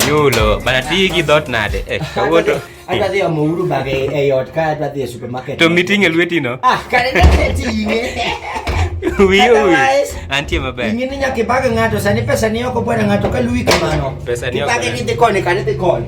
Yulo, bana tigi dot nade? Eh, kawuoto. Adwa dhi omo uru bag e, e ot ka adwa dhi e supermarket. To miting e lweti no? Ah, kare ne tinge. Wiyo wiyo. Antie maber. Ing'e ni nyaka ibag ng'ato, sani pesa ni oko bwana ng'ato ka luwi kamano. Pesa ni oko. Ibage ni dhi koni kani dhi koni.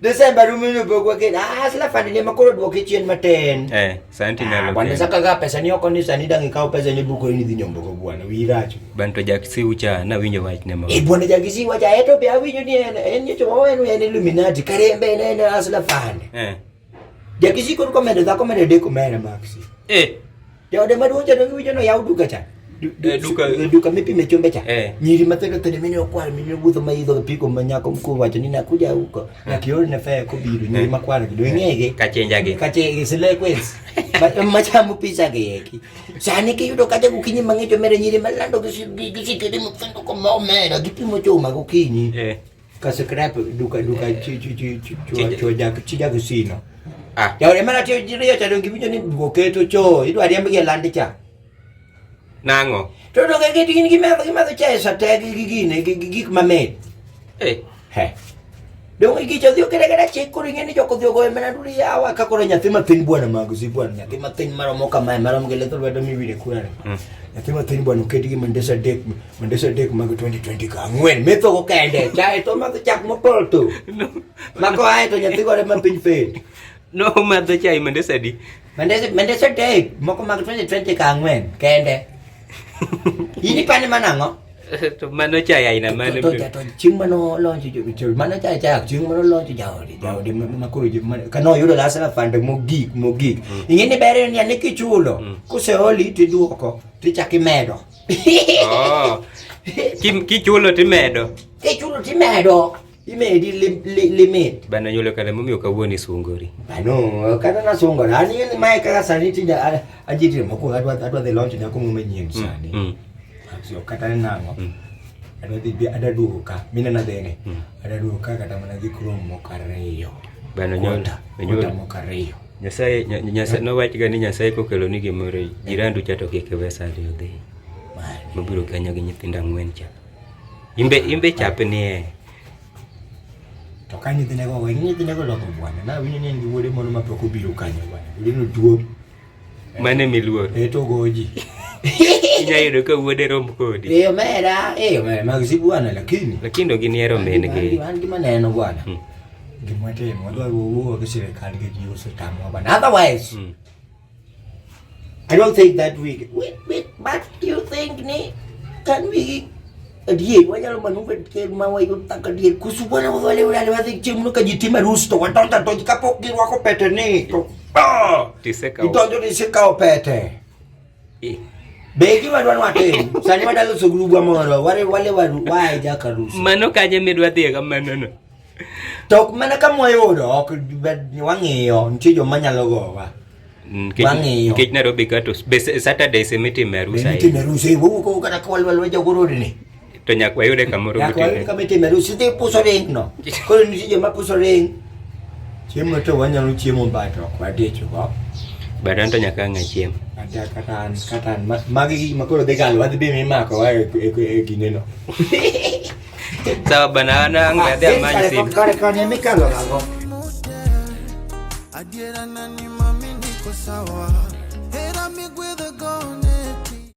December rumino bogwa ke ah sila fadi ne makoro duoke chien matin. Eh, santi ah, nalo. Bwana saka ga pesa ni oko ni sani dangi kawo pesa ni buko ni dhi nyombo ko bwana wiracho. Banto jakisi ucha na winyo wach ne ma. Eh bwana jakisi wacha eto be awinyo ni en en nyocho wawen en illuminati karembe ne ne asla fadi. Eh. Jakisi kon komendo da komendo de komera maxi. Eh. Jaode maduong' cha donge wijo noyaw duka cha. Eh, duka eh, duka mipime chumbe cha. Eh. Nyiri matendo tende mimi okwar mimi wuotho ma idho piko ma nyako mkuu wacho ni nakuja huko. Ah. Na kioro na faya kobiro nyiri makwar kido ngege. Kachenja ge. Kache sile kwes. Machamu pisa ge yeki. Sani ki yudo kaje kukinyi mangecho mere nyiri malando kisi kisi kidi mfendo kwa maomera kipimo chuma kukinyi. Eh. ka scrap duka duka eh. chi chi chi chi chi ja chi ja kusino ah ya ore mara tiyo jiriyo cha dongi bijo ni duko keto cho idu ari ambi landi cha nango to to ke kiti ni kimero kimero cha esa te gi gi ne gi gi ma me eh he dongi gi cho dio kere kere che kuri ngeni jo ko dio go mena duri ya wa ka kore nyathi ma tin bwana mago si bwana nyathi ma tin maro mo kama maro mgele to lwedo mi wire kurare hmm. nyathi ma tin bwana uketi gi mandesa dek Mandesa dek mag 2020 ka ang'wen metho go kende chae to madho chak mopol tu mako ae to nyathi gore ma piny fed no madho chai mandesa di Mandesa Mandesa dek moko mag 2020 ka ang'wen kende in ipani mana ang'o to mano chai aina mane to to- to chieng' mano lonjo jo- jo- mano cha chak chieng' mano lonjo jaodi jaodi ma- ma koro jo- ma- kano yudo lasna fande mogik mogik ing'e ni ber en ni ane kichulo Mm. kuseoli tiduoko tichak imedo Oh. Kim kichulo timedo. Kichulo timedo. Imedi lim, lim, limit. Bana yule kale mumi ukawoni sungori. Bano kana na sungori. Ani ni mai kaka saniti da ajiti moko adwa adwa the launch na kumu menyi mm, sani. Mm. Sio kata nango. Mm. Adwa the adwa duka. Mina na dene. Mm. Adwa duka kata mana di krom mokare yo. Bana yule. Yule mokare yo. Nyasaye Nyasaye nowachi ga ni Nyasaye kokelo ni gimoro eh. jirandu cha to kik iwe sali odhi. Mabiro kanyo gi nyithindo ang'wen cha. Imbe imbe chape ni e. To ka nyithindo go we nyithindo go loko bwana na winyo ni wuode mono ma pok obiro kanyo bwana. Lino duo. Mane miluor. E to goji. Inya yudo ka wuode rom kodi. E omera, e omera mag si bwana lakini. Lakini oginiero min gi. An gima neno bwana. Hmm. Gima timo wadwa wuoyo gi sirkal gi ji osetamwa bana. Otherwise, mm. I don't think that we wait, wait, but do you think ni can we adier wanyalo maneuver ker ma wayud taka adier kusu bwana wale wale wadhi chiemo no kajitima rusto watonta to kapok girwako pete ni to oh, idonjo ni sikawo pete Be gima dwa watim sani wadalo so grubwa moro wale wale wae jaka rusi. Mano kanye midwa dhiye ga mano no. To ok mana ka mwayudo ok wang'iyo nitie joma nyalo gowa. Mm, wang'iyo. Nikech Nairobi ka to be Saturday semitime rusa. Semitime rusa wuko kata kwalwalwa jagorodi ni. To nyakwa yude kamoro Nyaka wayud kama itime arus, idhi puso ring no. Koro nitie joma puso ring. Chiemo to wanyalo chiemo ba to ok wadich go. But an to nyaka ang'a chiemo. Ada kata an kata an ma- magi gik makoro dhi galo wadhi bi mimako wa e- e e gine no. Sawa bana an ang' be adhi amany Kare- simu. Kare kare mikalo gago. Adiera nani mami niko sawa